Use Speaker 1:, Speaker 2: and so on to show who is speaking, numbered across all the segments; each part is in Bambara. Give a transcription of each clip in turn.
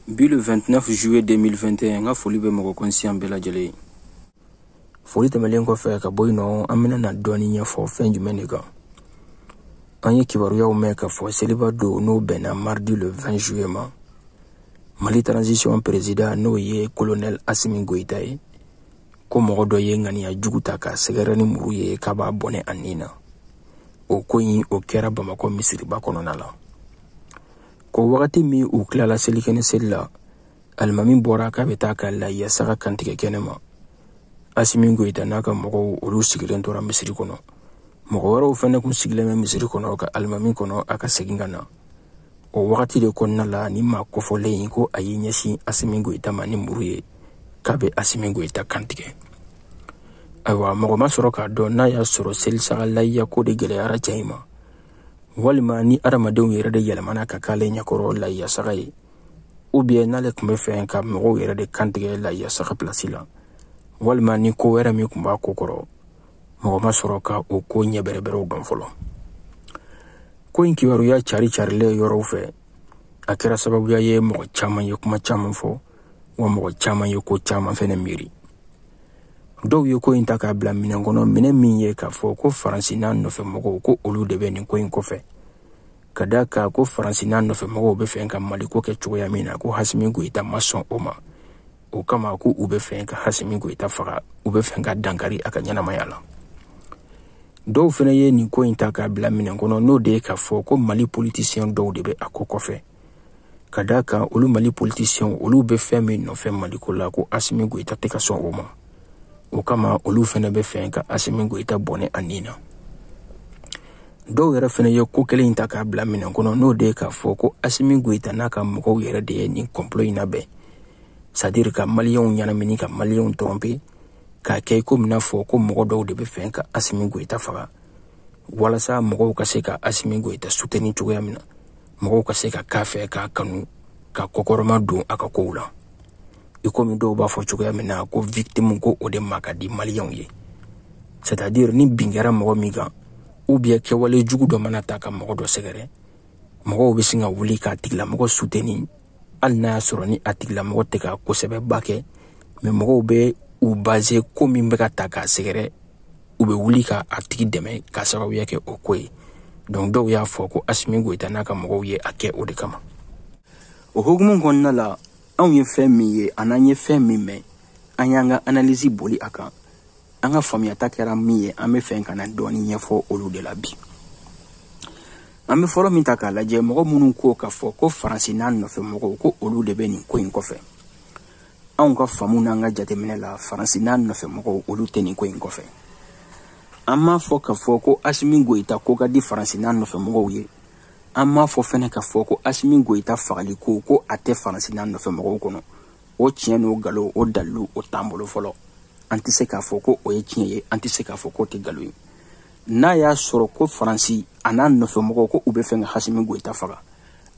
Speaker 1: bi le 29 juillet 2021 n ka foli bɛ mɔgɔ kɔnsiyan bɛɛ lajɛlen ye foli tɛmɛlen kɔfɛ ka bɔ yen nɔ an bɛna na dɔɔni ɲɛfɔ fɛn jumɛn de kan an ye kibaruyaw mɛn k'a fɔ seliba don n'o bɛnna mardi le 20 juillet ma mali transition perezidan n'o ye kolonɛl asimi goyita ye ko mɔgɔ dɔ ye ŋaniya jugu ta k'a sɛgɛrɛ ni muru ye k'a b'a bɔnɛ a nin na o ko in o kɛra bamakɔ misiriba kɔnɔna la ko wagati min u tilala selikɛnɛ seli la alimami bɔra k'a bɛ taa ka layiya saga kantigɛ kɛnɛ ma asimi goyita n'a ka mɔgɔw olu sigilen tora misiri kɔnɔ mɔgɔ wɛrɛw fɛnɛ kun sigilen bɛ misiri kɔnɔ ka alimami kɔnɔ a ka segin ka na o wagati de kɔnɔna la nin maa kofɔlen in ko a y'i ɲɛsin asimi goyita ma ni muru ye k'a bɛ asimi goyita kantigɛ ayiwa mɔgɔ ma sɔrɔ k'a dɔn n'a y'a sɔrɔ selisaga layiya ko de gɛlɛyara cɛ in ma walima ni adamadenw yɛrɛ de yɛlɛmana ka k'ale ɲɛkɔrɔ layiyasaga ye ou bien n'ale tun bɛ fɛ ka mɔgɔw yɛrɛ de kantigɛ layiyasaga pilasi la walima ni ko wɛrɛ min tun b'a ko kɔrɔ mɔgɔ ma sɔrɔ ka o ko ɲɛbɛrɛbɛrɛw dɔn fɔlɔ ko in kibaruya cari carilen yɔrɔw fɛ a kɛra sababuya ye mɔgɔ caman ye kuma caman fɔ wa mɔgɔ caman ye ko caman fɛnɛ miiri dɔw ye ko in ta k'a bila minɛn kɔnɔ minɛn min ye k'a fɔ ko faransi n'a nɔfɛ mɔgɔw ko olu de bɛ nin ko in kɔfɛ ka d'a kan ko faransi n'a nɔfɛ mɔgɔw bɛ fɛ ka maliko kɛ cogoya min na ko asimi goyita ma sɔn o ma o kama ko u bɛ fɛ ka asimi goyita faga u bɛ fɛ ka dankari a ka ɲɛnamaya la dɔw fɛnɛ ye nin ko in ta k'a bila minɛn kɔnɔ n'o de ye k'a fɔ ko mali politisiyɛn dɔw de bɛ a ko kɔfɛ ka d'a kan olu mali politisiyɛnw olu bɛ fɛn min nɔfɛ maliko la ko asimi goyita tɛ ka sɔn o ma o kama olu fɛnɛ bɛ fɛ ka asimi goyita bɔnɛ a nin na dɔw yɛrɛ fɛnɛ ye ko kelen in ta k'a bila minɛn kɔnɔ n'o de ye k'a fɔ ko asimi goyita n'a ka mɔgɔw yɛrɛ de ye nin kɔnpolo in labɛn c'est à dire ka maliyɛnw ɲɛnamini ka maliyɛnw tɔrɔnpe k'a kɛ i komi n'a fɔ ko mɔgɔ dɔw de bɛ fɛ ka asimi goyita faga walasa mɔgɔw ka se ka asimi goyita suteni cogoya min na mɔgɔw ka se ka k'a fɛ k'a kanu ka kɔkɔrɔma don a ka kow la i komi dɔw b'a fɔ cogoya min na ko victime ko o de ma ka di maliyɛnw ye c'est à dire ni bin kɛra mɔgɔ min kan ou bien kɛwale jugu dɔ mana ta ka mɔgɔ dɔ sɛgɛrɛ mɔgɔw bɛ sin ka wuli k'a tigilamɔgɔ suteni hali n'a y'a sɔrɔ ni a tigilamɔgɔ tɛ ka ko sɛbɛba kɛ mɛ mɔgɔw bɛ u baze ko min bɛ ka ta k'a sɛgɛrɛ u bɛ wuli ka a tigi dɛmɛ k'a sababuya kɛ o ko ye dɔnku dɔw y'a fɔ ko asimi goyita n'a ka mɔgɔw ye a kɛ o de kama o hukumu kɔnɔna la anw ye fɛn min ye an'an ye fɛn min mɛn an y'an ka analizi boli a kan an ka faamuyata kɛra min ye an bɛ fɛ ka na dɔɔni ɲɛfɔ olu de la bi an bɛ fɔlɔ min ta k'a lajɛ mɔgɔ minnu ko k'a fɔ ko faransi n'a nɔfɛ mɔgɔw ko olu de bɛ nin ko in kɔfɛ anw ka faamu n'an ka jateminɛ la faransi n'a nɔfɛ mɔgɔw olu tɛ nin ko in kɔfɛ an m'a fɔ k'a fɔ ko asimi goyita ko ka di faransi n'a nɔfɛ mɔgɔw ye an m'a fɔ fɛnɛ k'a fɔ ko asimi goyita fagali ko ko a tɛ faransi n'a nɔfɛ mɔgɔw kɔnɔ o tiɲɛ n'o galo o dalilu o t'an bolo fɔlɔ an tɛ se k'a fɔ ko o ye tiɲɛ ye an tɛ se k'a fɔ k'o tɛ galo ye n'a y'a sɔrɔ ko faransi a n'a nɔfɛmɔgɔw ko u bɛ fɛ ka asimi goyita faga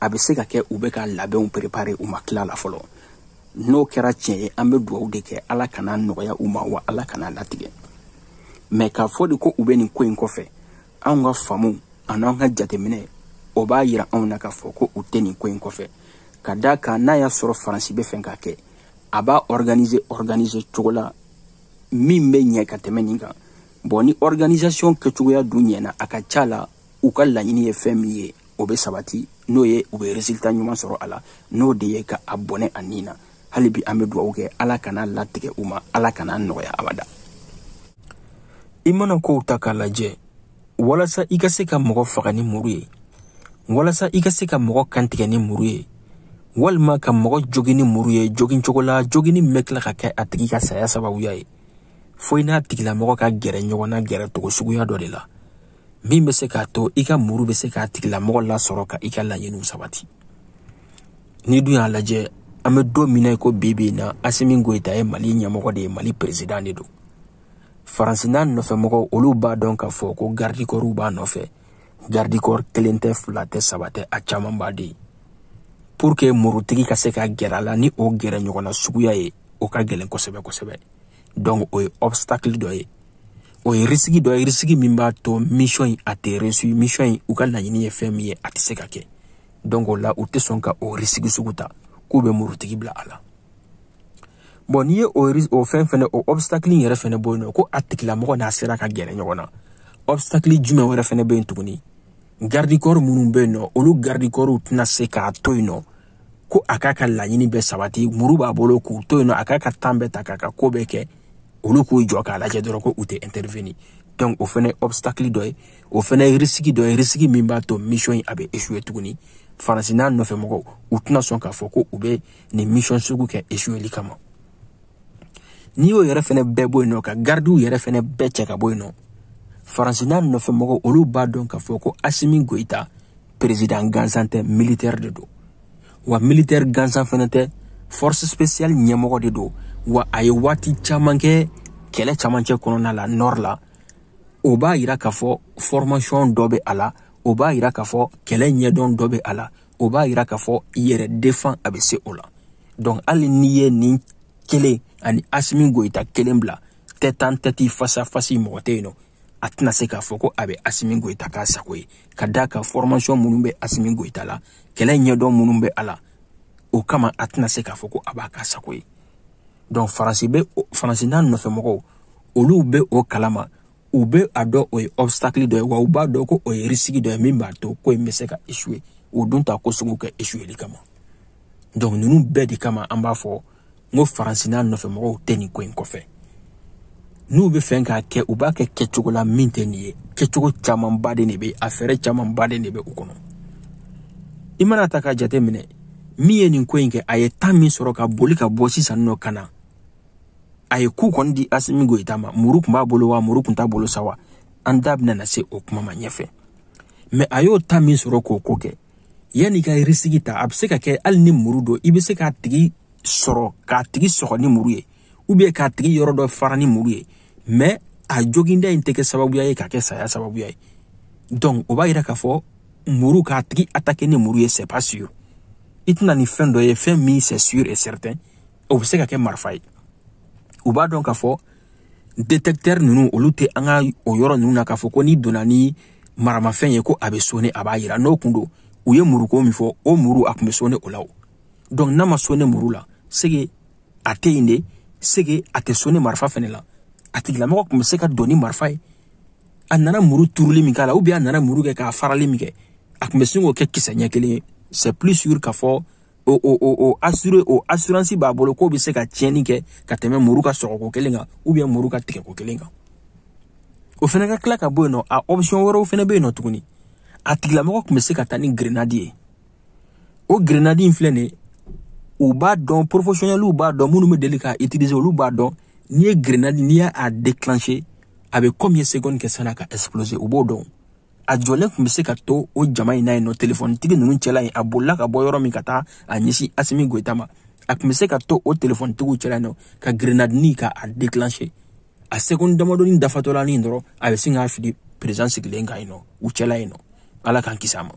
Speaker 1: a bɛ se ka kɛ u bɛ ka labɛnw préparer u ma tila la fɔlɔ n'o kɛra tiɲɛ ye an bɛ dugawu de kɛ ala kana nɔgɔya u ma wa ala kana latigɛ mais k'a fɔ de ko u bɛ nin ko in kɔfɛ anw ka faamu an'an ka jateminɛ o b'a yira anw na k'a fɔ ko u tɛ nin ko in kɔfɛ ka d'a kan n'a y'a sɔrɔ faransi bɛ fɛ k'a kɛ a b'a organiser organiser cogo la min bɛ ɲɛ ka tɛmɛ nin kan bon ni organisation kɛcogoya dun ɲɛna a ka ca la u ka laɲini ye fɛn min ye o bɛ sabati n'o ye u bɛ résultat ɲuman sɔrɔ a la n'o de ye ka a bɔnɛ a ni na hali bi an bɛ dugawu kɛ ala kana latigɛ u ma ala kana nɔgɔya abada i mana kow ta k'a lajɛ walasa i ka se ka mɔgɔ faga ni muru ye walasa i ka se ka mɔgɔ kantigɛ ni muru ye walima ka mɔgɔ jogin ni muru ye jogin cogo la joginni min bɛ tila ka kɛ a tigi ka saya sababuya ye fo i n'a tigilamɔgɔ ka gɛrɛ ɲɔgɔn na gɛrɛ cogo suguya dɔ de la min bɛ se k'a to i ka muru bɛ se k'a tigilamɔgɔ lasɔrɔ ka i ka laɲiniw sabati n'i dun y'a lajɛ an bɛ don min na i ko bi bi in na asimi goyita ye mali ɲɛmɔgɔ de ye mali peresidan de don faransi n'a nɔfɛmɔgɔw olu b'a dɔn k'a fɔ ko garidikɔriw b'a nɔfɛ garidikɔri kelen tɛ fila tɛ saba tɛ a camanba de ye pour que murutigi ka se ka gɛrɛ a la ni o gɛrɛ ɲɔgɔnna suguya ye o ka gɛlɛn kosɛbɛ kosɛbɛ donc o ye obstacle dɔ ye o ye risiki dɔ ye risiki min b'a to mission in a tɛ réussir mission in u ka laɲini ye fɛn min ye a tɛ se ka kɛ donc o la u tɛ sɔn ka o risiki sugu ta k'u bɛ murutigi bila a la bon n'i ye o o fɛn fɛnɛ o obstacle in yɛrɛ fɛnɛ bɔ yen nɔ ko a tigilamɔgɔ n'a sera ka gɛrɛ ɲɔgɔn na obstacle jumɛn wɛrɛ fɛnɛ bɛ yen tuguni garde corps minnu bɛ yen nɔ olu garde corps tɛna se k'a to yen nɔ ko a k'a ka laɲini bɛɛ sabati muru b'a bolo k'u to yen nɔ a k'a ka temps bɛɛ ta k'a ka ko bɛɛ kɛ olu k'u jɔ k'a lajɛ dɔrɔn ko u tɛ intervenir donc o fɛnɛ obstacle dɔ ye o fɛnɛ risque dɔ ye risque min b'a to mission in a bɛ échouer tuguni faransi n'a nɔfɛ mɔgɔw u tɛna sɔn k'a fɔ ko u bɛ nin mission sugu kɛ échouer kama n'i y'o yɛrɛ fɛnɛ bɛɛ bɔ yen nɔ ka garidiw yɛrɛ fɛnɛ bɛɛ cɛ ka bɔ yen nɔ faransi n'a nɔfɛ mɔgɔw olu b'a dɔn k'a fɔ ko asimi goyita président gansan tɛ militaire de don wa militaire gansan fɛnɛ tɛ force spéciale ɲɛmɔgɔ de don wa a ye waati caman kɛ kɛlɛ camancɛ kɔnɔna la nord la o b'a yira k'a fɔ formation dɔ bɛ a la o b'a yira k'a fɔ kɛlɛ ɲɛdɔn dɔ bɛ a la o b'a yira k'a fɔ yɛrɛ défend a bɛ se o la donc hali n'i ye nin kelen ani asimi goyita kelen bila tête en tête face à face mɔgɔ tɛ yen nɔ a tɛna se k'a fɔ ko a bɛ asimi goyita k'a sago ye ka d'a kan formation minnu bɛ asimi goyita la kɛlɛ ɲɛdɔn minnu bɛ a la o kama a tɛna se k'a fɔ ko a b'a k'a sago ye donc faransi n'a nɔfɛmɔgɔw olu bɛ o kalama u be a dɔn o ye obstacle dɔ ye wa u b'a dɔn ko o ye risque dɔ ye min b'a to ko in be se ka échouer o dun t'a ko sugu kɛ échoueli kama donc nunu bɛɛ de kama an b'a fɔ n ko faransi n'a nɔfɛ mɔgɔw tɛ nin ko in kɔfɛ n'u be fɛ k'a kɛ u b'a kɛ kɛcogo la min tɛ nin ye kɛcogo camanba de be a fɛɛrɛ camanba de be u kɔnɔ i mana ta k'a jate minɛ min ye nin ko in kɛ a ye temps min sɔrɔ ka boli ka bɔ sisan nɔ ka na a ye coup kɔni di asimi goyita ma muru tun b'a bolo wa muru tun t'a bolo sa wa an da bɛna na se o kuma ma ɲɛfɛ mais a y'o temps min sɔrɔ k'o ko kɛ yanni ka risque ta a bɛ se ka kɛ hali ni muru don i bɛ se k'a tigi sɔrɔ k'a tigi sɔgɔ ni muru ye ou bien k'a tigi yɔrɔ dɔ fara ni muru ye mais a joginda in tɛ kɛ sababuya ye ka kɛ saya sababuya ye donc o b'a yira k'a fɔ muru k'a tigi attaquer ni muru ye c'est pas sûr i tɛ na ni fɛn dɔ ye fɛn min c'est sûr et certain o bɛ se ka kɛ marifa ye u b'a dɔn k'a fɔ détecteur ninnu olu tɛ an ka o yɔrɔ ninnu na k'a fɔ ko n'i donna ni maramafɛn ye ko a bɛ sonner a b'a yira n'o kun don u ye muruko min fɔ o muru a tun bɛ sonner o la o donc n'a ma sonner muru la c'est que a tɛ yen de c'est que a tɛ sonner marifa fɛnɛ la a tigilamɔgɔ tun bɛ se ka don ni marifa ye a nana muru turuli min k'a la ou bien a nana muru kɛ k'a farali min kɛ a tun bɛ se k'o kɛ kisɛ ɲɛ kelen ye c'est plus sûr k'a fɔ o o o o assuré o assurance b'a bolo k'o bɛ se ka tiɲɛni kɛ ka tɛmɛ muru ka sɔgɔko kelen kan ou bien muru ka tigɛko kelen kan o fana ka tila ka bɔ yen nɔ a option wɛrɛw fana bɛ yen nɔ tuguni a tigilamɔgɔ tun bɛ se ka taa ni grenade ye o grenade in filɛ nin ye u b'a dɔn professionnels b'a dɔn minnu bɛ deli k'a utiliser olu b'a dɔn n'i ye grenade n'i y'a déclencher a bɛ combien secondes kɛ san'a ka exploser u b'o dɔn a jɔlen tun bɛ se ka to o jama in na yen nɔ telefonitigi ninnu cɛla yen a bolila ka bɔ yɔrɔ min ka taa a ɲɛsin asimi goyita ma a tun bɛ se ka to o telefonitigiw cɛla yen nɔ ka grenadi nin k'a déclencher a sekondi damadɔni dafatɔ la nin dɔrɔn a bɛ sin k'a fili perezan sigilen kan yen nɔ u cɛla yen nɔ ala k'an kisi a ma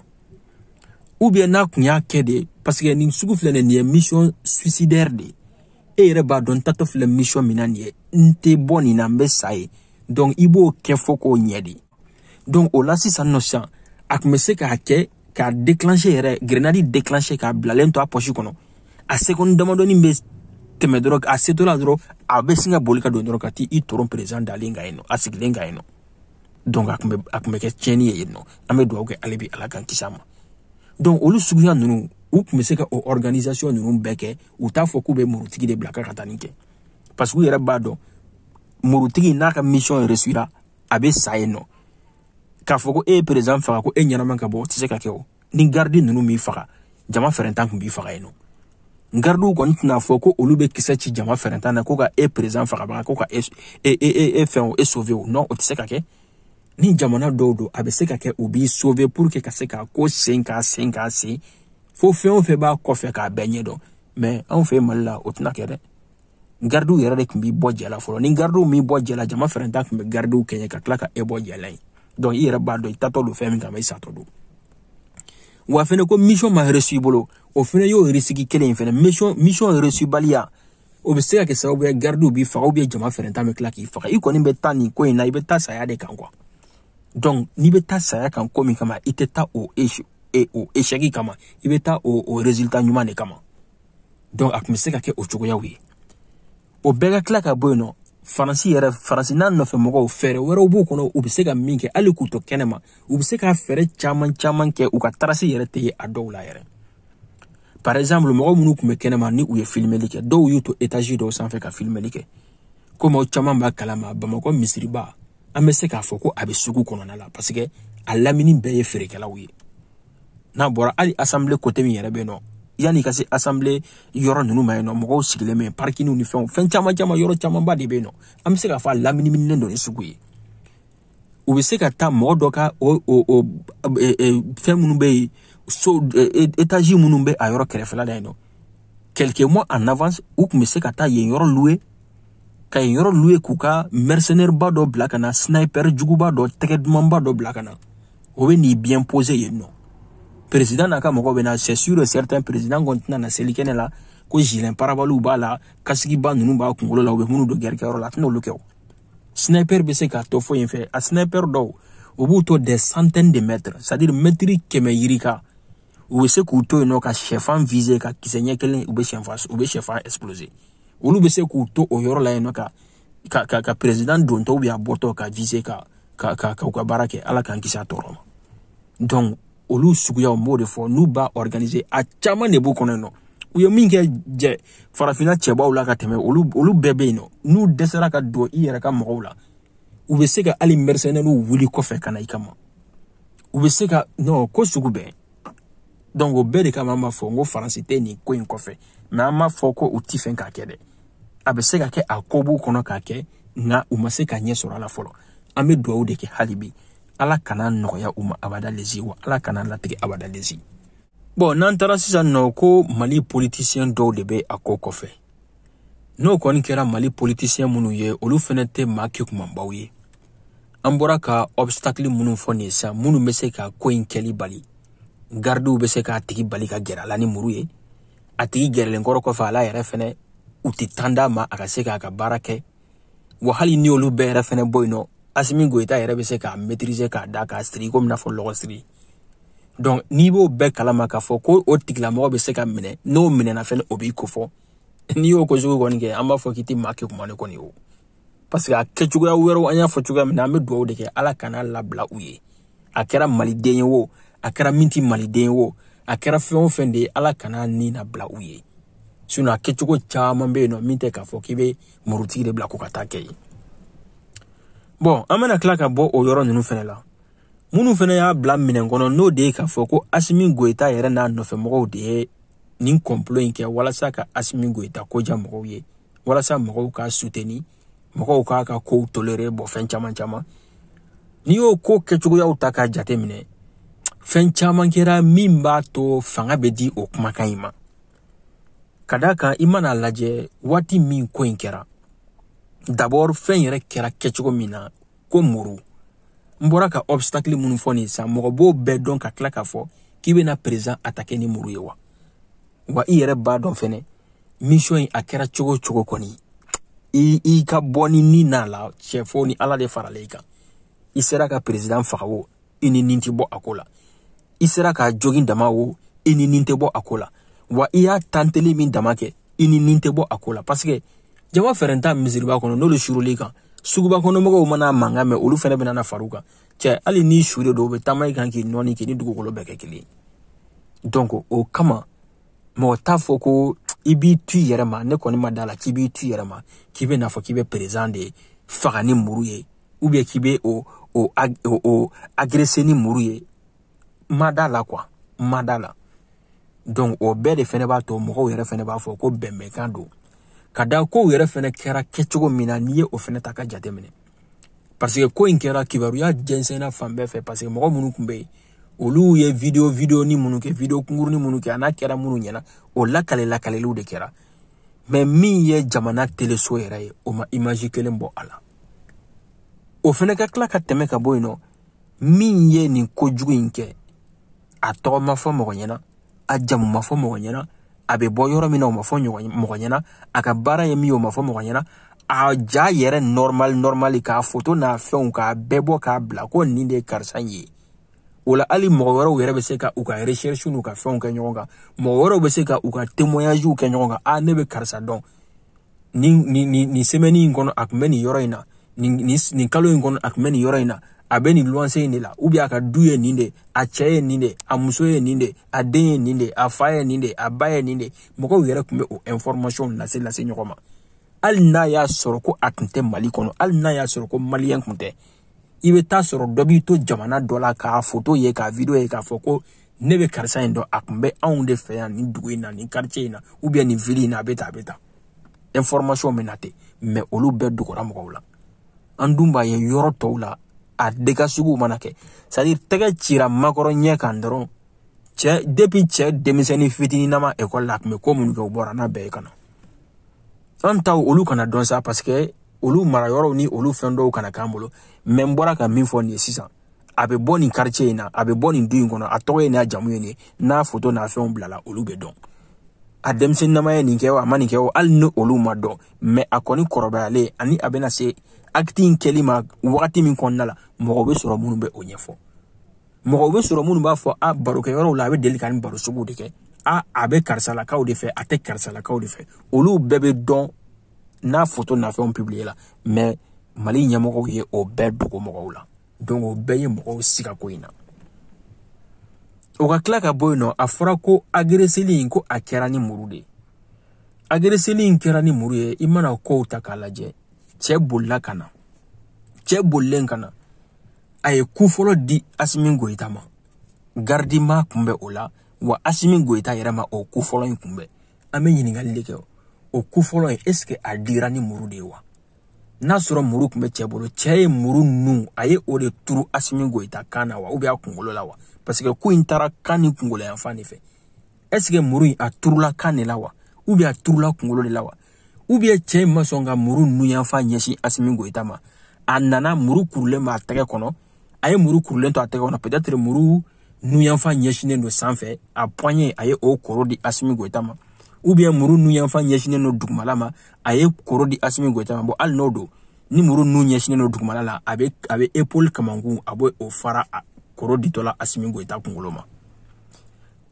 Speaker 1: ou bien n'a tun y'a kɛ de parce que nin sugu filɛ nin ye mission suicidaire de e yɛrɛ b'a dɔn n tatɔ filɛ mission min na nin ye n tɛ bɔ nin na n bɛ sa yen donc i b'o kɛ fo k'o ɲɛ de donc o la sisan nɔ sisan a tun bɛ se k'a kɛ k'a déclencher yɛrɛ grenade déclencher k'a bilalen to a poche kɔnɔ a seconde damadɔni bɛ tɛmɛ dɔrɔn a setɔ la dɔrɔn a bɛ sin ka boli ka don dɔrɔn ka t'i toron président dalen kan yen nɔ a sigilen kan yen nɔ donc a tun bɛ a tun bɛ kɛ tiɲɛni ye yen nɔ an bɛ dugawu kɛ ale bi ala k'an kisi a ma donc olu suguya ninnu u tun bɛ se ka o organisation ninnu bɛɛ kɛ u t'a fɔ k'u bɛ murutigi de bila ka ka taa nin kɛ parce que u yɛrɛ b'a dɔn murutigi n'a ka mission réussira a bɛ sa yen nɔ k'a fɔ ko e ye perezan faga ko e ɲɛnama ka bɔ o tɛ se ka kɛ o ni garidi ninnu m'i faga jama fɛrɛntan tun b'i faga yen nɔ gardiw kɔni tɛna fɔ ko olu bɛ kisɛ ci jama fɛrɛntan na ko ka e perezan fagabaga ko ka e e e e fɛn o e sauver o non o tɛ se ka kɛ ni jamana dɔw don a bɛ se ka kɛ u b'i sauver pour que ka se k'a ko sen k'a sen k'a sen fo fɛn o fɛn b'a kɔfɛ k'a bɛɛ ɲɛdɔn mais anw fɛ mali la o tɛna kɛ dɛ gardiw yɛrɛ de tun b'i bɔ jɛ la fɔlɔ ni gardiw m'i bɔ jɛ la jama fɛrɛntan tun bɛ gardiw kɛɲɛ ka tila ka e bɔ jɛ la yen donc i yɛrɛ b'a dɔn i tatɔ don fɛn min kama i satɔ don wa fɛnɛ ko mission ma réussi i bolo o fɛnɛ y'o risiki kelen in fɛnɛ mission mission réussi baliya o bɛ se ka kɛ sababu ye gardiw b'i faga ou bien jama fɛrɛntan bɛ tila k'i faga i kɔni bɛ taa nin ko in na i bɛ taa saya de kan quoi donc n'i bɛ taa saya kan ko min kama i tɛ taa o e o échec kama i bɛ taa o o résultat ɲuman de kama donc a tun bɛ se ka kɛ o cogoyaw ye o bɛɛ ka tila ka bɔ yen nɔ faransi yɛrɛ faransi n'a nɔfɛ mɔgɔw fɛɛrɛ wɛrɛw b'u kɔnɔ u bɛ se ka min kɛ hali k'u to kɛnɛ ma u bɛ se ka fɛɛrɛ caman caman kɛ u ka trace yɛrɛ tɛ ye a dɔw la yɛrɛ par exemple mɔgɔ minnu tun bɛ kɛnɛ ma ni u ye filimeli kɛ dɔw y'u to etazi dɔw sanfɛ ka filimeli kɛ komi aw caman b'a kalama bamakɔ misiriba an bɛ se k'a fɔ ko a bɛ sugu kɔnɔna la parce que a lamini bɛɛ ye feerekɛlaw ye n'a bɔra hali asanbile kote min yɛrɛ bɛ yen nɔ yanni ka se asanbile yɔrɔ ninnu ma yen nɔ mɔgɔw sigilen bɛ yen parikiniw ni fɛnw fɛn caman caman yɔrɔ camanba de bɛ yen nɔ an bɛ se k'a fɔ a laminiminen don ni sugu ye u bɛ se ka taa mɔgɔ dɔ ka o o o e, e, fɛn minnu bɛ yen so e, etazi minnu bɛ a yɔrɔ kɛrɛfɛla la yen nɔ quelques mois en avance u tun bɛ se ka taa yen yɔrɔ louer ka yen yɔrɔ louer k'u ka mercenaire ba dɔ bila ka na sniper juguba dɔ tɛgɛ dumanba dɔ bila ka na o bɛ n'i bien poser yen nɔ président n'a ka mɔgɔw bɛ na c'est sûr et certain président kɔni tɛna na seli kɛnɛ la ko gilet pare-balles b'a la kasigiba ninnu b'a kunkolo la u bɛ minnu don gɛrikɛyɔrɔ la a tɛna olu kɛ o sniper bɛ se k'a to fɔ yen fɛ a sniper dɔw u b'u to des centaines de mètres c'est à dire mɛtiri kɛmɛ yirika u bɛ se k'u to yen nɔ ka sɛfan viser ka kisɛ ɲɛ kelen u bɛ sɛfan u bɛ sɛfan exploser olu bɛ se k'u to o yɔrɔ la yen nɔ ka ka ka ka president dontɔ ou bien a bɔtɔ ka viser ka ka ka ka u ka baara kɛ ala k'an kisi a tɔɔrɔ ma donc olu suguyaw n b'o de fɔ n'u b'a organiser a caman de b'u kɔnɔ yen nɔ u ye min kɛ jɛ farafinna cɛbaw la ka tɛmɛ olu olu bɛɛ bɛ yen nɔ n'u dɛsɛra ka don i yɛrɛ ka mɔgɔw la u bɛ se ka hali mercenairew wuli kɔfɛ ka na i kama u bɛ se ka non ko sugu bɛɛ donc o bɛɛ de kama an b'a fɔ n ko faransi tɛ nin ko in kɔfɛ mais an m'a fɔ ko u ti fɛn k'a kɛ dɛ a bɛ se ka kɛ a ko b'u kɔnɔ k'a kɛ nka u ma se ka ɲɛ sɔrɔ a la fɔlɔ an bɛ dugawu de kɛ hali bi ala kana a nɔgɔya u ma abada lezi wa ala kana a latigɛ abada lezi bon n'an taara sisan nɔ ko mali politisiyɛn dɔw de bɛ a ko kɔfɛ n'o kɔni kɛra mali politisiyɛn minnu ye olu fɛnɛ tɛ maa kekumanbaw ye an bɔra ka obstakili minnu fɔ nin sisan minnu bɛ se ka ko in kɛli bali garidiw bɛ se k'a tigi bali ka gɛrɛ a la ni muru ye a tigi gɛrɛlen kɔrɔ kɔfɛ a la yɛrɛ fɛnɛ u tɛ tan d'a ma a ka se k'a ka baara kɛ wa hali ni olu bɛɛ yɛrɛ fɛnɛ bɔ yen nɔ asimi goyita yɛrɛ bɛ se k'a maîtriser k'a da k'a siri komi n'a fɔ lɔgɔ siri donc n'i b'o bɛɛ kalama k'a fɔ ko o tigilamɔgɔ bɛ se ka minɛ n'o minɛna fɛnɛ o b'i kofɔ n'i y'o ko sugu kɔni kɛ an b'a fɔ k'i tɛ maa kekuman ye kɔni o parce que a kɛcogoya wɛrɛw an y'a fɔ cogoya min na an bɛ dugawu de kɛ ala kana labila u ye a kɛra maliden ye o a kɛra min tɛ maliden ye o a kɛra fɛn o fɛn de ye ala kana nin nabila u ye sinon a kɛcogo caman bɛ yen nɔ min tɛ k'a fɔ k'i bɛ murutigi de bila ko ka taa kɛ ye bon an bɛna tila ka bɔ o yɔrɔ ninnu fɛnɛ la minnu fɛnɛ y'a bila minɛn kɔnɔ n'o de ye k'a fɔ ko asimi goyita yɛrɛ n'a nɔfɛmɔgɔw de ye nin kɔnpolo in kɛ walasa ka asimi goyita ko diya mɔgɔw ye walasa mɔgɔw k'a suteni mɔgɔw k'a ka kow tolere bon fɛn caman caman n'i y'o ko kɛcogoyaw ta k'a jate minɛ fɛn caman kɛra min b'a to fanga bɛ di o kumakan in ma ka d'a kan i mana lajɛ waati min ko in kɛra d'abord fɛn yɛrɛ kɛra kɛcogo min na ko muru n bɔra ka obstacle minnu fɔ nin sisan mɔgɔ b'o bɛɛ dɔn ka tila k'a fɔ k'i bɛna président atake ni muru ye wa wa i yɛrɛ b'a dɔn fɛnɛ mission in a kɛra cogo o cogo kɔni i i ka bɔ ni ni n'a la cɛ fo ni ala de farala i kan i sera ka peresidan faga o i ni nin tɛ bɔ a ko la i sera k'a jogin dama o i ni nin tɛ bɔ a ko la wa i y'a tanteli min dama kɛ i ni nin tɛ bɔ a ko la parce que jama fɛrɛnta misiriba kɔnɔ n'olu suurul'i kan suguba kɔnɔmɔgɔw mana mankan mɛn olu fɛnɛ bɛna na far'u kan cɛ hali ni su de don u bɛ taama i kan k'i nɔɔni k'i ni dugukolo bɛɛ kɛ kelen ye donc o kama mɔgɔ t'a fɔ ko i b'i tu i yɛrɛ ma ne kɔni ma da la k'i b'i tu i yɛrɛ ma k'i bɛ n'a fɔ k'i bɛ président de faga ni muru ye ou bien k'i bɛ o o o agresser ni muru ye ma da la quoi ma da la donc o bɛɛ de fɛnɛ b'a to mɔgɔw yɛrɛ fɛnɛ b'a fɔ ko bɛnbɛnkan don ka da kow yɛrɛ fɛnɛ kɛra kɛcogo min na n'i ye o fɛnɛ ta ka jateminɛ parce que ko in kɛra kibaruya jɛnsɛnna fan bɛɛ fɛ parce que mɔgɔ minnu tun bɛ yen olu ye video videonin minnu kɛ video kunkurunin minnu kɛ a n'a kɛra minnu ɲɛna o lakale lakaleliw de kɛra mais min ye jamana teleso yɛrɛ ye o ma image kelen bɔ a la o fɛnɛ ka tila ka tɛmɛ ka bɔ yen nɔ min ye nin kojugu in kɛ a tɔgɔ ma fɔ mɔgɔ ɲɛna a jamu ma fɔ mɔgɔ ɲɛna a bɛ bɔ yɔrɔ min na o ma fɔ mɔgɔ ɲɛna a ka baara ye min ye o ma fɔ mɔgɔ ɲɛna a ja yɛrɛ normal normal k'a foto n'a fɛnw k'a bɛɛ bɔ k'a bila ko nin de ye karisa ye o la hali mɔgɔ wɛrɛw yɛrɛ bɛ se ka u ka recherche n'u ka fɛnw kɛ ɲɔgɔn kan mɔgɔ wɛrɛw bɛ se ka u ka témoignages kɛ ɲɔgɔn kan a ne bɛ karisa dɔn nin nin nin nin semaine in kɔnɔ a kun bɛ nin yɔrɔ in na nin nin nin kalo in kɔnɔ a kun bɛ nin yɔrɔ in na a bɛ nin luwanse in de la ou bien a ka du ye nin de a cɛ ye nin de a muso ye nin de a den ye nin de a fa ye nin de a ba ye nin de mɔgɔw yɛrɛ kun bɛ o information lase lase ɲɔgɔn ma hali n'a y'a sɔrɔ ko a kun tɛ mali kɔnɔ hali n'a y'a sɔrɔ ko malien kun tɛ i bɛ taa sɔrɔ dɔ b'i to jamana dɔ la k'a foto ye k'a video ye k'a fɔ ko ne bɛ karisa in dɔn a kun bɛ anw de fɛ yan nin dugu in na nin quartier in na ou bien nin ville in na a bɛ tan a bɛ tan information bɛ na ten mais olu bɛɛ dogora mɔgɔw la an dun b'a ye yɔrɔ tɔw la a dégât suguw mana kɛ c'est à dire tɛgɛ cira macron ɲɛ kan dɔrɔn cɛ depuis cɛ denmisɛnnin fitininama école la a kun bɛ ko minnu kɛ u bɔra n'a bɛɛ ye ka na an taw olu kana dɔn sa parce que olu mara yɔrɔw ni olu fɛn dɔw kana k'an bolo mais n bɔra ka min fɔ nin ye sisan a bɛ bɔ nin quartier in na a bɛ bɔ nin du in kɔnɔ a tɔgɔ ye nin a jamu ye nin n'a foto n'a fɛnw bilala olu bɛ dɔn a denmisɛnninama ye nin kɛ o a ma nin kɛ o hali ni olu ma dɔn mais a kɔni kɔrɔbayalen ani a bɛna se acte in kɛli ma wagati min kɔnɔna la mɔgɔw bɛ sɔrɔ minnu bɛ o ɲɛfɔ mɔgɔw bɛ sɔrɔ minnu b'a fɔ a barokɛyɔrɔw la a bɛ deli ka nin baro suguw de kɛ a a bɛ karisalakaw de fɛ a tɛ karisalakaw de fɛ olu bɛɛ bɛ dɔn n'a foto n'a fɛnw publiéla mais mali ɲɛmɔgɔw ye o bɛɛ dogo mɔgɔw la donc o bɛɛ ye mɔgɔw siga ko in na o ka tila ka bɔ yen nɔ a fɔra ko agresseli in ko a kɛra ni muru de ye agresseli in kɛra ni muru ye i mana kow ta k'a lajɛ cɛ bolila ka na cɛ bolilen ka na a ye coup fɔlɔ di asimi goyita ma garde m'a kunbɛn o la wa asimi goyita yɛrɛ ma o coup fɔlɔ in kunbɛn an bɛ ɲininkali de kɛ o ku fɔlɔ in est-ce que a dira ni muru de ye wa n'a sɔrɔ muru kun bɛ cɛ bolo cɛ ye muru nun a ye o de turu asimi goyita kan na wa ubiyɛn a kunkolo la wa parce que ku in taara kan ni kunkolo yanfan de fɛ est-ce que muru in a turula kan de la wa ubiyɛn a turula kunkolo de la wa ubiyɛn cɛ in ma sɔn ka muru nun yanfan ɲɛsin asimi goyita ma a nana muru kurulen b'a tɛgɛ kɔnɔ a ye muru kurulen to a tɛgɛ kɔnɔ peut-être muru nun yanfan ɲɛsinnen don sanfɛ a poignée a ye o koro di Asimi Goyita ma ou bien muru nun yanfan ɲɛsinnen don dugumala ma a ye koro di Asimi Goyita ma bon hali n'o don ni muru nun ɲɛsinnen don dugumala la a bɛ a bɛ épaule kamankun a bɛ o fara koro ditɔ la Asimi Goyita kunkolo ma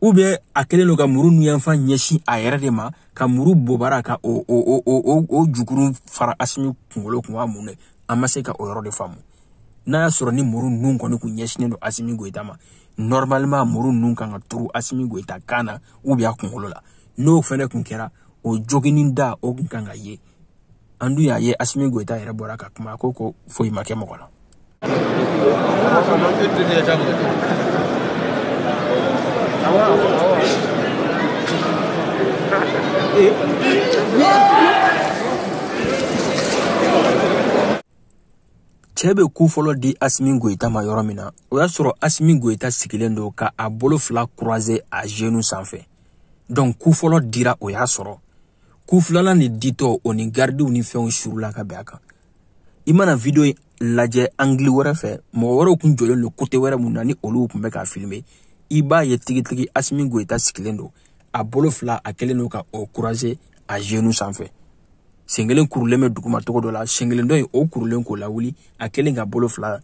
Speaker 1: ou bien a kɛlen don ka muru nun yanfan ɲɛsin a yɛrɛ de ma ka muru bobara ka o o o o o jukuru fara Asimi kunkolo kun wa mun de an ma se ka o yɔrɔ de faamu n'a y'a sɔrɔ ni muru nun kɔni kun ɲɛsinnen don asimi goyita ma normalement muru nun kan ka turu asimi goyita kan na ou bien a kunkolo la n'o fɛnɛ kun kɛra o joginin da o kun kan ka ye an dun y'a ye asimi goyita yɛrɛ bɔra ka kuma ko ko foyi ma kɛ mɔgɔ la cɛ bɛ ku fɔlɔ di asimi goyita ma yɔrɔ min na o y'a sɔrɔ asimi goyita sigilen don ka a bolo fila kuruwaze a zenu sanfɛ donk ku fɔlɔ dira o y'a sɔrɔ ku filanan in ditɔ o ni garidiw ni fɛnw surula ka bin a kan i mana video in lajɛ angili wɛrɛ fɛ mɔgɔ wɛrɛw kun jɔlen don kote wɛrɛ mun na ni olu kun bɛ k'a filime i b'a ye tigitigi asimi goyita sigilen don a bolo fila a kɛlen don ka o kuruwaze a zenu sanfɛ sen kelen kurulen bɛ duguma cogo dɔ la sen kelen dɔ in o kurulen k'o lawuli a kɛlen ka bolo fila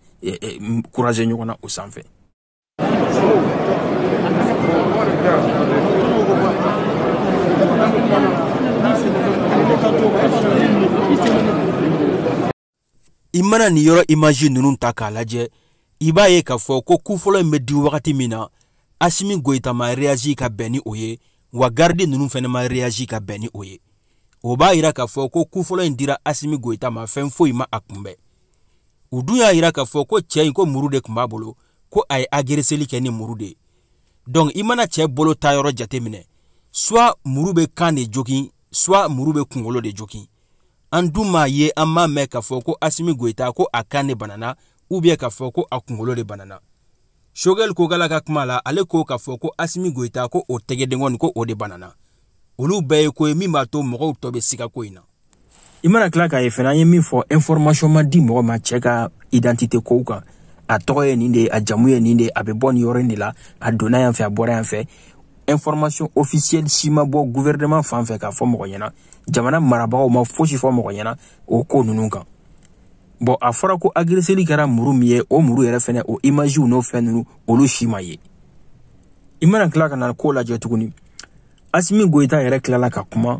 Speaker 1: kuruwaze ɲɔgɔn na o sanfɛ i mana nin yɔrɔ imaji ninnu ta k'a lajɛ i b'a ye k'a fɔ ko ku fɔlɔ in bɛ di wagati min na asimi goyita ma reyazi ka bɛn ni o ye wa garidi ninnu fɛnɛ ma reyazi ka bɛn ni o ye o b'a yira k'a fɔ ko ku fɔlɔ in dira asimi goyita ma fɛn foyi ma a kunbɛn u dun y'a yira k'a fɔ ko cɛ in ko muru de kun b'a bolo ko a ye agereseli kɛ ni muru de ye donc i mana cɛ bolo ta yɔrɔ jateminɛ soit muru bɛ kan de jogin soit muru bɛ kunkolo de jogin an dun m'a ye an m'a mɛn k'a fɔ ko asimi goyita ko a kan de banana ubiyɛn k'a fɔ ko a kunkolo de banana shogɛli kokala ka kuma la ale ko k'a fɔ ko asimi goyita ko o tɛgɛdenkɔni ko o de banana olu bɛɛ ye ko ye min b'a to mɔgɔw tɔ bɛ siga ko in na i mana tila k'a ye fana an ye min fɔ information ma di mɔgɔ ma cɛ ka identité kow kan a tɔgɔ ye nin de ye a jamu ye nin de ye a bɛ bɔ nin yɔrɔ in de la a donna yan fɛ a bɔra yan fɛ information officielle si ma bɔ gouvernement fan fɛ k'a fɔ mɔgɔ ɲɛna jamana marabagaw ma fosi fɔ mɔgɔ ɲɛna o ko ninnu kan bon a fɔra ko agreseli kɛra muru min ye o muru yɛrɛ fɛnɛ o imaziw n'o fɛn ninnu olu si ma ye i mana tila ka na ko lajɛ tuguni asimi goyita yɛrɛ tilala ka kuma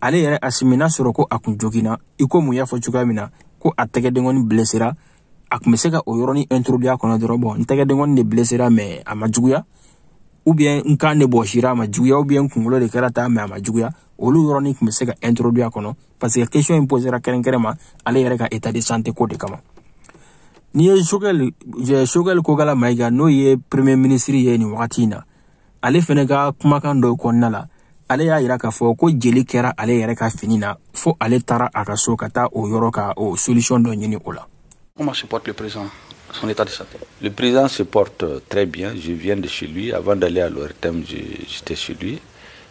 Speaker 1: ale yɛrɛ asimi n'a sɔrɔ ko a kun joginna i komi u y'a fɔ cogoya min na ko a tɛgɛdenkɔni blesera a kun be se ka o yɔrɔnin introduire a kɔnɔ dɔrɔn bon n tɛgɛdenkɔni de blesera mais a ma juguya ou bien n kan de bɔsira a ma juguya ou bien n kungolo de kɛra ta mais a ma juguya olu yɔrɔnin kun be se ka introduire a kɔnɔ parce que question in posera kɛrɛnkɛrɛn ma ale yɛrɛ ka état de santé ko de kama n'i ye sogɛl sogɛl kokala mayiga n'o ye premier ministre ye nin wagati in na ale fɛnɛ ka kumakan dɔ kɔnɔna la ale y'a yira k'a fɔ ko jeli kɛra ale yɛrɛ ka fini na fo ale taara a ka so ka taa o yɔrɔ ka o solution dɔ ɲini o la Comment se porte
Speaker 2: le président son état de santé Le président se porte très bien. Je viens de chez lui. Avant d'aller à l'ORTM, j'étais chez lui.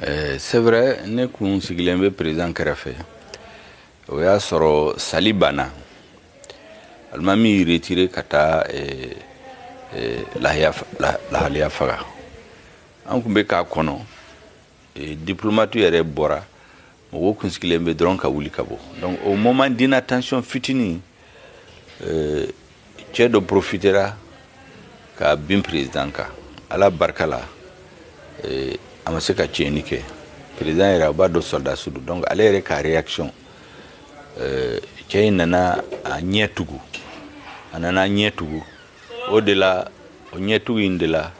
Speaker 2: Eh, c'est vrai ne kun sigilen bɛ président kɛrɛfɛ o y'a sɔrɔ sali banna alimami y'i retire ka taa eh, eh, lahaliya faga an kun bɛ k'a kɔnɔ diplomatew yɛrɛ bɔra mɔgɔw kun sigilen bɛ dɔrɔn ka wuli ka bɔ donc au moment d'inattention fitinin euh, cɛ dɔ profitera ka bin président kan ala barika la euh, a ma se ka tiɲɛni kɛ président yɛrɛ aw b'a dɔn sɔrɔdasi don donc ale yɛrɛ ka réaction euh, cɛ in nana a ɲɛ tugu a nana a ɲɛ tugu o de la o ɲɛ tugu in de la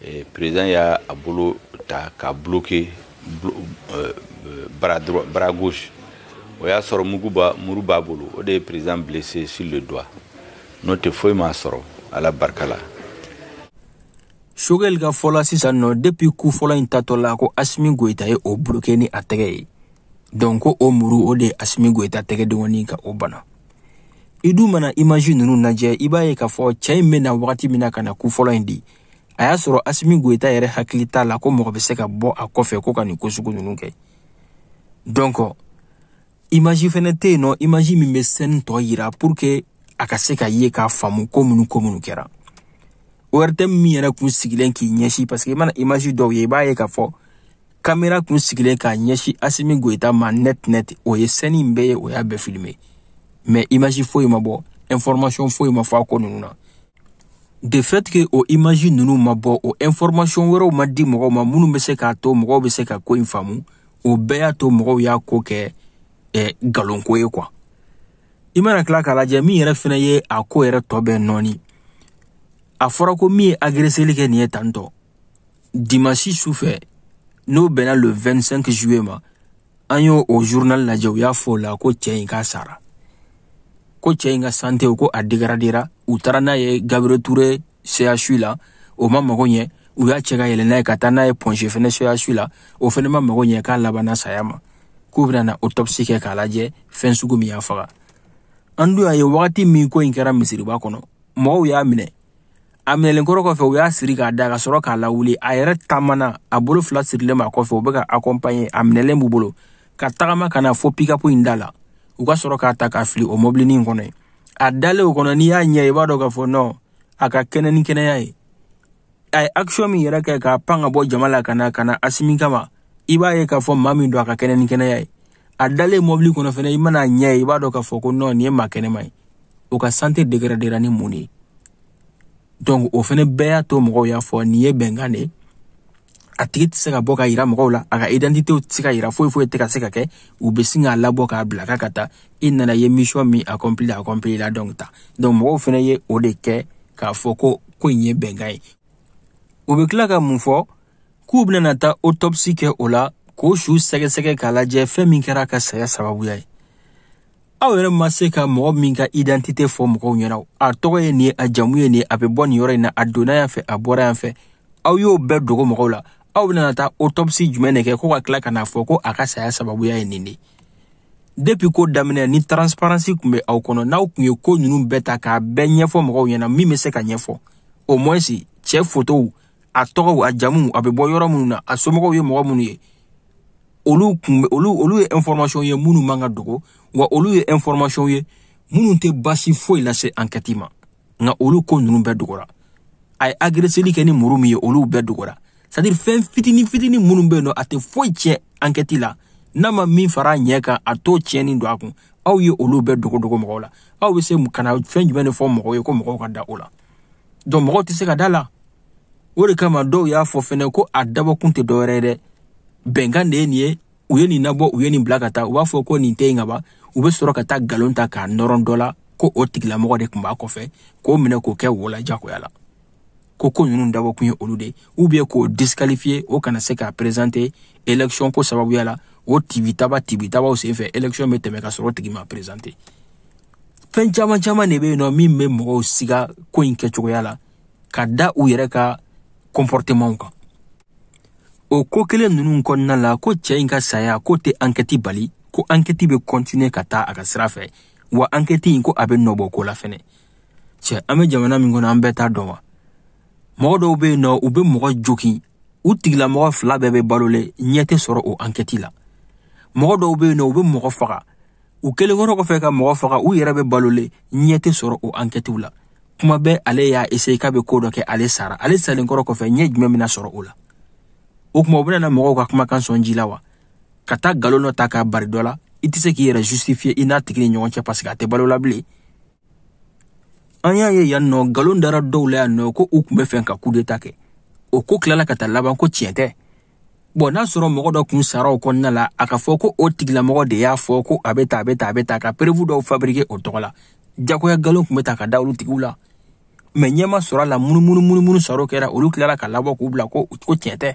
Speaker 2: eh, président y'a a bolo ta k'a bloquer euh, bras droit bras gauche o y'a sɔrɔ mugu b'a muru b'a bolo o de ye président blessé sur le doigt n'o tɛ foyi m'a sɔrɔ ala barika la
Speaker 1: sogɛli ka fɔ la sisan nɔ depuis coup fɔlɔ in tatɔ la ko asimi goyita ye o bloke ni a tɛgɛ ye donc ko o muru o de ye asimi goyita tɛgɛdenkɔni ka o bana i dun mana imaji nunu lajɛ i b'a ye k'a fɔ cɛ in bɛ na wagati min na ka na coup fɔlɔ in di a y'a sɔrɔ asimi goyita yɛrɛ hakili t'a la ko mɔgɔ bɛ se ka bɔ a kɔfɛ ko ka nin ko sugu ninnu kɛ donc imaji fɛnɛ tɛ yen nɔ imaji min bɛ sɛni tɔ yira pour que a ka se k'a ye k'a faamu ko minnu ko minnu kɛra ORTM min yɛrɛ kun sigilen k'i ɲɛsin parce que i mana imaji dɔw ye i b'a ye k'a fɔ kamera kun sigilen k'a ɲɛsin asimi goyita ma net net o ye sɛni in bɛɛ ye o y'a bɛɛ filime mais imaji foyi ma bɔ information foyi ma fɔ a ko ninnu na de fait que o imaji ninnu ma bɔ o information wɛrɛw ma di mɔgɔw ma minnu bɛ se k'a to mɔgɔw bɛ se ka ko in faamu o bɛɛ y'a to mɔgɔw y'a ko kɛ eh, nkalonko ye quoi i mana tila k'a lajɛ min yɛrɛ fɛnɛ ye a ko yɛrɛ tɔ bɛɛ nɔɔni a fɔra ko min ye agreseli kɛ nin ye tantôt dimansi su fɛ n'o bɛnna le 25 juillet ma an y'o o journal lajɛ u y'a fɔ o la ko cɛ in k'a sara ko cɛ in ka sante ko a degradera u taara n'a ye gabriel ture CHU la o ma mago ɲɛ u y'a cɛ ka yɛlɛ n'a ye ka taa n'a ye point G fɛnɛ CHU la o fɛnɛ ma mago ɲɛ k'a labanna saya ma k'u bɛna na autopsi kɛ k'a lajɛ fɛn sugu min y'a faga an dun y'a ye wagati min ko in kɛra misiriba kɔnɔ mɔgɔw y'a minɛ a minɛlen kɔrɔ kɔfɛ u y'a siri k'a da ka sɔrɔ k'a lawuli a yɛrɛ taamana a bolo fila sirilen b'a kɔfɛ u bɛ k'a akɔnpanye a minɛlen b'u bolo ka tagama ka na fo pikapu in da la u ka sɔrɔ k'a ta k'a fili o mɔbilini in kɔnɔ yen a dalen o kɔnɔ n'i y'a ɲɛ i b'a dɔn k'a fɔ nɔ a ka kɛnɛ ni kɛnɛya ye a ye akisiyɔn min yɛrɛ kɛ ka pan ka bɔ jama la ka na ka na asimi kama i b'a ye k'a fɔ maa min don a ka kɛnɛ ni kɛnɛya ye a dalen mɔbili kɔnɔ fɛnɛ i man'a ɲɛ ye i b'a dɔn k'a fɔ ko nɔ nin ye maa kɛnɛma ye o ka sante degradera ni mun de ye donc o fɛnɛ bɛɛ y'a to mɔgɔw y'a fɔ nin ye bɛnkan de ye a tigi tɛ se ka bɔ ka yira mɔgɔw la a ka identitew tɛ se ka yira foyi foyi tɛ ka se ka kɛ u bɛ sin k'a labɔ k'a bila k'a ka taa i nana ye mission min accompli accomplila donc taa donc mɔgɔw fɛnɛ ye o de kɛ k'a fɔ ko ko in ye bɛnkan ye u bɛ tila ka mun fɔ k'u bɛna taa otɔpsi kɛ o la k'o su sɛgɛsɛgɛ k'a lajɛ fɛn min kɛra a ka saya sababuya ye aw yɛrɛ ma se ka mɔgɔ min ka idantite fɔ mɔgɔw ɲɛna a tɔgɔ ye nin ye a jamu ye nin ye a bɛ bɔ nin yɔrɔ in na a donna yan fɛ a bɔra yan fɛ aw y'o bɛɛ dogo mɔgɔw la aw bɛna taa otɔpsi jumɛn de kɛ ko ka tila ka n'a fɔ ko a ka saya sababuya ye nin de depi ko daminɛ ni transparansi tun bɛ aw kɔnɔ n'aw tun ye ko ninnu bɛɛ ta k'a bɛɛ ɲɛfɔ mɔgɔw ɲɛna min bɛ se ka ɲɛfɔ au moins cɛ fotow a tɔgɔw a jamuw a bɛ bɔ yɔrɔ minnu na a somɔgɔw ye mɔgɔ minnu ye olu kun olu olu ye information ye minnu man ka dogo wa olu ye information ye minnu tɛ baasi foyi lase ankɛti ma nka olu ko ninnu bɛɛ dogora a ye agreseli kɛ ni muru min ye olu bɛɛ dogora sadiri fɛn fitini fitini minnu bɛ yen nɔ a tɛ foyi tiɲɛ ankɛti la n'a ma min fara a ɲɛ kan a t'o tiɲɛni don a kun aw ye olu bɛɛ dogodogo mɔgɔw la aw bɛ se ka na fɛn jumɛn de fɔ mɔgɔw ye ko mɔgɔw ka da o la donc mɔgɔw tɛ se ka da la o de kama dɔw y'a fɔ fɛnɛ ko a dabɔkun tɛ dɔwɛrɛ ye dɛ bɛnkan de ye nin ye u ye nin nabɔ u ye nin bila ka taa u b'a fɔ ko nin tɛ yen ka ban u bɛ sɔrɔ ka taa nkalon ta k'a nɔrɔ dɔ la ko o tigilamɔgɔ de tun b'a kɔfɛ k'o minɛ k'o kɛ wo la jagoya la ko ko ninnu dabɔkun ye olu de ou bien k'o disqualifier o kana se k'a présenter élection ko sababuya la o tibitaba tibitabaw senfɛ élection bɛ tɛmɛ ka sɔrɔ o tigi ma présenter fɛn caman caman de bɛ yen nɔ min bɛ mɔgɔw siga ko in kɛcogoya la ka da u yɛrɛ ka kɔnpɔrɔtemanw kan o ko kelen ninnu kɔnɔna la ko cɛ in ka saya ko tɛ ankɛti bali ko ankɛti bɛ kɔntine ka taa a ka sira fɛ wa ankɛti in ko a bɛ nɔbɔ ko la fɛnɛ cɛ an bɛ jamana min kɔnɔ an bɛɛ t'a dɔn wa mɔgɔ dɔw bɛ yen nɔ u bɛ mɔgɔ jokin u tigilamɔgɔ fila bɛɛ bɛ balolen ɲɛ tɛ sɔrɔ o ankɛti la mɔgɔ dɔw bɛ yen nɔ u bɛ mɔgɔ faga u kɛlen kɔrɔ kɔfɛ ka mɔgɔ faga u yɛrɛ bɛ balolen ɲɛ tɛ sɔrɔ o ankɛtiw la kuma bɛɛ ale y'a eseye k'a bɛ ko dɔ kɛ ale sara ale salen kɔrɔ kɔfɛ ɲɛ jumɛn bɛna sɔrɔ o la o tuma u bɛna na mɔgɔw ka kumakan sɔn ji la wa ka taa nkalon dɔ ta k'a bari dɔ la i tɛ se k'i yɛrɛ justifier i n'a tigi ni ɲɔgɔn cɛ paseke a tɛ balo la bilen an y'a ye yan nɔ nkalon dara dɔw la yan nɔ ko u tun bɛ fɛ ka kudeta kɛ o ko tilala ka taa laban ko tiɲɛ tɛ bɔn n'a sɔrɔ mɔgɔ dɔ kun sara o kɔnɔna la a ka fɔ ko o tigilamɔgɔ de y'a fɔ ko a bɛ taa a bɛ taa a bɛ taa ka perewu dɔw fabrike o tɔgɔ la jagoya nkalon tun bɛ ta ka da olu tigiw la mɛ ɲɛ ma sɔrɔ a la munumunu munumunu saro kɛra olu tilala ka labɔ k'u bila ko ko tiɲɛ tɛ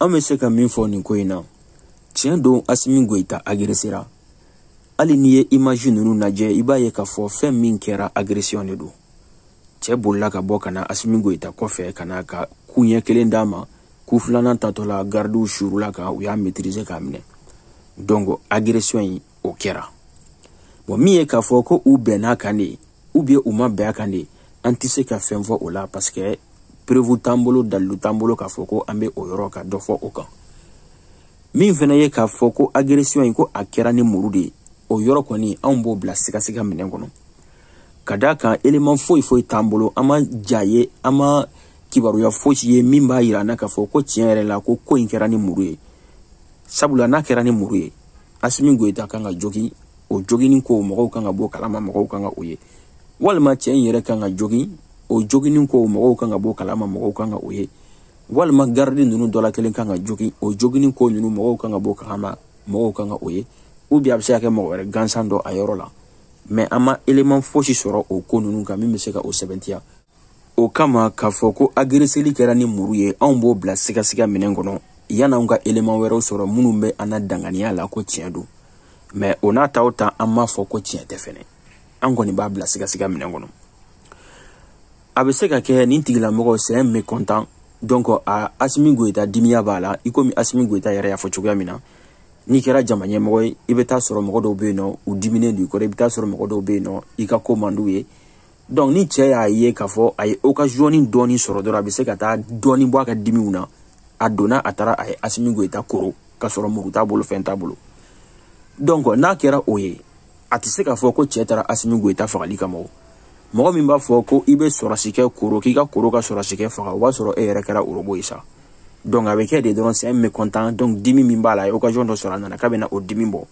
Speaker 3: an bɛ se ka min fɔ nin ko in
Speaker 1: na tiɲɛ don asimi goyita agiresera hali n'i ye imaji ninnu lajɛ i b'a ye k'a fɔ fɛn min kɛra agresiyɔn de don cɛ bolila ka bɔ ka na asimi goyita kɔfɛ ka na ka ku ɲɛ kelen d'a ma ku filanan tatɔ la garidiw surula a kan u y'a maîtriser k'a minɛ donc agresiyɔn in o kɛra bɔn min ye k'a fɔ ko u bɛnna a kan de ou bien u ma bɛn a kan de an tɛ se ka fɛn fɔ o la parce que preuve t'an bolo dalilu t'an bolo k'a fɔ ko an bɛ o yɔrɔ ka dɔ fɔ o kan min fana ye k'a fɔ ko agression in ko a kɛra ni muru de ye o yɔrɔ kɔni anw b'o bila sigasiga minɛn kɔnɔ ka d'a kan eleman foyi foyi t'an bolo an ma ja ye an ma kibaruya fosi ye min b'a yira an na k'a fɔ ko tiɲɛ yɛrɛ la ko ko in kɛra ni muru ye sabula n'a kɛra ni muru ye asimi goyita kan ka jogin o joginin ko mɔgɔw kan ka bɔ kalama mɔgɔw kan ka o ye walima cɛ in yɛrɛ kan ka jogin o joginin ko mɔgɔw kan ka bɔ kalama mɔgɔw kan ka o ye walima garidi ninnu dɔ la kelen kan ka jogin o joginin ko ninnu mɔgɔw kan ka bɔ kalama mɔgɔw kan ka o ye ou bien a bɛ se ka kɛ mɔgɔ wɛrɛ gansan dɔ a yɔrɔ la mɛ an ma eleman fosi sɔrɔ o ko ninnu kan min bɛ se ka o sɛbɛntiya o kama k'a fɔ ko agereseli kɛra ni muru ye anw b'o bila sigasiga minɛn kɔnɔ yan'anw ka eleman wɛrɛw sɔrɔ minnu bɛ an na danganiya la ko tiɲɛ don mɛ o n'a ta o ta an m'a fɔ ko tiɲɛ tɛ fɛnɛ an kɔni b'a bila sigasiga minɛn kɔnɔ a bɛ se ka kɛ nin tigilamɔgɔ c'est un mécontent donc a asimi goyita dimiya b'a la i komi asimi goyita yɛrɛ y'a fɔ cogoya min na n'i kɛra jama ɲɛmɔgɔ ye i bɛ taa sɔrɔ mɔgɔ dɔw bɛ yen nɔ u diminen don i kɔrɔ i bɛ taa sɔrɔ mɔgɔ dɔw bɛ yen nɔ i ka ko man d'u ye donc ni cɛ y'a ye k'a fɔ a ye okaziyɔni dɔɔni sɔrɔ dɔrɔn a bɛ se ka taa dɔɔni bɔ a ka dimiw na a donna a taara a ye asimi goyita koro k'a sɔrɔ muru t'a bolo fɛn t'a bolo donc n'a kɛra o ye a tɛ se k'a fɔ ko cɛ taara asimi goyita fagali kama o mɔgɔ min b'a fɔ ko i bɛ sɔrɔsi kɛ koro k'i ka koro ka sɔrɔsi kɛ faga o b'a sɔrɔ e yɛrɛ kɛra orobo ye sa donc a bɛ kɛ de dɔrɔn c'est un mécontent donc dimi min b'a la a ye okaziyɔn dɔ sɔrɔ a nana k'a bɛ na o dimi bɔ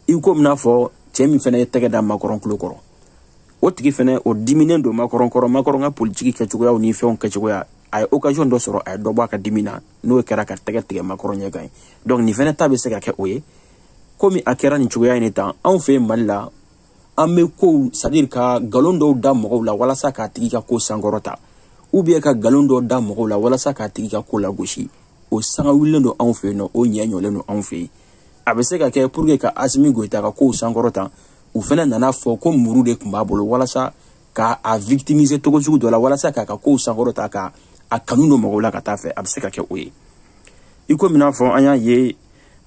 Speaker 1: i ko min n'a fɔ cɛ min fana ye tɛgɛ da makɔrɔn tulo kɔrɔ o tigi fɛnɛ o diminen don makɔrɔn kɔrɔ makɔrɔn ka politiki kɛcogoyaw ni fɛnw kɛcogoya a ye occasion dɔ sɔrɔ a ye dɔ bɔ a ka dimi na n'o kɛra ka tɛgɛ tigɛ makɔrɔn ɲɛ kan ye donc nin fɛnɛ ta bɛ se ka kɛ o ye komi a kɛra nin cogoya in de tan anw fɛ yen mali la an bɛ kow c'est-à-dire ka nkalon dɔw da mɔgɔw la walasa k'a tigi ka ko sankɔrɔta ubiyɛn ka nkalon dɔw da mɔgɔw la walasa k'a tigi ka ko lagosi o sanga wulilen don anw fɛ yen nɔ o ɲɛ ɲɔlen don anw fɛ yen a bɛ se ka kɛ pour que ka asimi goyita ka kow sankɔrɔta u fɛnɛ nana a fɔ ko muru de tun b'a bolo walasa ka a victimiser cogo sugu dɔ la walasa k'a ka kow sankɔrɔta ka a kanu don mɔgɔw la ka taa fɛ a bɛ se ka kɛ o ye i komi n'a fɔ an y'a ye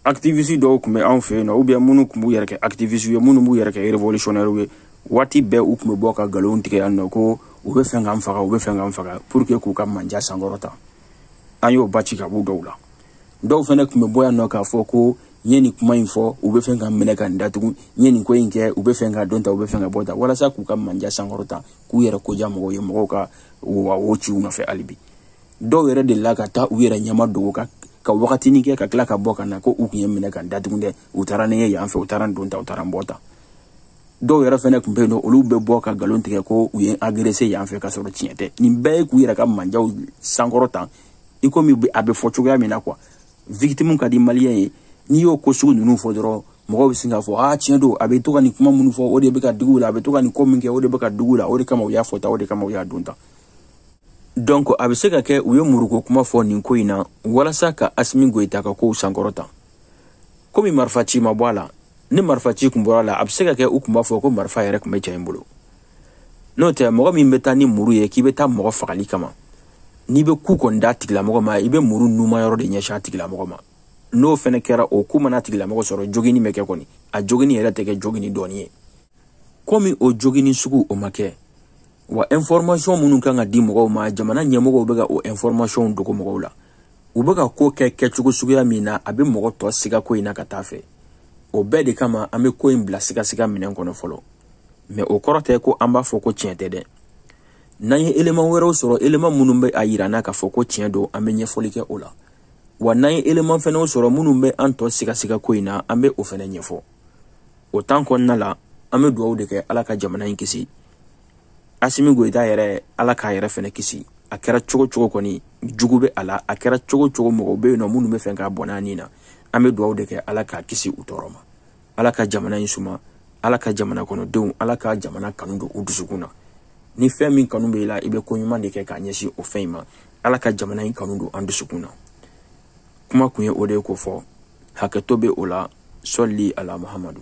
Speaker 1: activiste dɔw tun bɛ anw fɛ yen nɔ ubiyɛn minnu tun b'u yɛrɛ kɛ activiste ye minnu b'u yɛrɛ kɛ révolutionnaire ye waati bɛɛ u tun bɛ bɔ ka nkalon tigɛ yan nɔ ko u bɛ fɛn k'an faga u bɛ fɛn k'an faga pour que k'u ka manja sankɔrɔta an y'o ba ci ka b'u dɔw la dɔw fɛnɛ tun bɛ bɔ yan nɔ k'a fɔ ko n ye nin kuma in fɔ u bɛ fɛn ka n minɛ ka n datugu n ye nin ko in kɛ u bɛ fɛn ka n don tan u bɛ fɛn ka n bɔ tan walasa k'u ka manja sankɔrɔta k'u yɛrɛ ko diya mɔgɔw ye mɔgɔw ka wa o ci u nɔfɛ hali bi dɔw yɛrɛ delila ka taa u yɛrɛ ɲɛma dogo ka ka wagatini kɛ ka tila ka bɔ ka na ko u tun ye n minɛ ka n datugu dɛ u taara ni n ye yan fɛ u taara n don tan u taara n bɔ tan dɔw yɛrɛ fɛnɛ tun bɛ yen nɔ olu bɛ bɔ ka nkalon tigɛ ko u ye agrese yan fɛ ka sɔrɔ tiɲɛ tɛ nin bɛɛ ye k'u yɛrɛ ka manjaw sankɔrɔta i komi a bɛ fɔ cogoya min na kuwa victime ka di maliyɛn ye n'i y'o ko sugu ninnu fɔ dɔrɔn mɔgɔw bɛ sin k'a fɔ a tiɲɛ don a bɛ to ka nin kuma minnu fɔ o de bɛ ka digi u la a bɛ to ka nin ko min kɛ o de bɛ ka digi u la o de kama u y'a fɔ tan o de kama u y'a don tan donc a bɛ se ka kɛ u ye muruko kuma fɔ nin ko in na walasa ka asimi goyita ka kow sankɔrɔta komi marifa ci ma bɔ a la ni marifa ci kun bɔra a la a bɛ se ka kɛ u kun b'a fɔ ko marifa yɛrɛ tun bɛ cɛ in bolo n'o tɛ mɔgɔ min bɛ taa ni muru ye k'i bɛ taa mɔgɔ fagali kama n'i bɛ ku kɔni d'a tigilamɔgɔ ma i bɛ muru nunma yɔrɔ de ɲɛsin a tigilamɔgɔ ma n'o fɛnɛ kɛra o ku mana a tigilamɔgɔ sɔrɔ joginni bɛ kɛ kɔni a joginni yɛrɛ tɛ kɛ joginni dɔɔni ye komi o joginni sugu o ma kɛ wa information minnu kan ka di mɔgɔw ma jamana ɲɛmɔgɔw bɛ ka o information dogo mɔgɔw la u bɛ ka ko kɛ kɛcogo suguya min na a bɛ mɔgɔ tɔ siga ko in na ka taa fɛ o bɛɛ de kama an bɛ ko in bila sigasiga minɛn kɔnɔ fɔlɔ mɛ o kɔrɔ tɛ ko an b'a fɔ ko tiɲɛ tɛ dɛ n'an ye eleman wɛrɛw sɔrɔ eleman minnu bɛ a yira an na k'a fɔ ko tiɲɛ don an bɛ ɲɛfɔli kɛ o la wa n'an ye eleman fɛnɛw sɔrɔ minnu bɛ an tɔ sigasiga ko in na an bɛ o fɛnɛ ɲɛfɔ o tan kɔnɔna la an bɛ dugawu de kɛ ala ka jamana in kisi asimi goyita yɛrɛ ala k'a yɛrɛ fɛnɛ kisi a kɛra cogo cogo kɔni jugu bɛ a la a kɛra cogo cogo mɔgɔw bɛ yen nɔ minnu bɛ fɛ k'a bɔnɛ a ni na an bɛ dugawu de kɛ ala k'a kisi u tɔɔrɔ ma ala ka jamana in suma ala ka jamana kɔnɔdenw ala ka jamana kanu don u dusukun na ni fɛn min kanu bɛ i la i bɛ ko ɲuman de kɛ k'a ɲɛsin o fɛn in ma ala ka jamana in kanu don an dusukun na kuma kun ye o de ye ko fɔ hakɛto bɛ o la sɔli ala mahamadu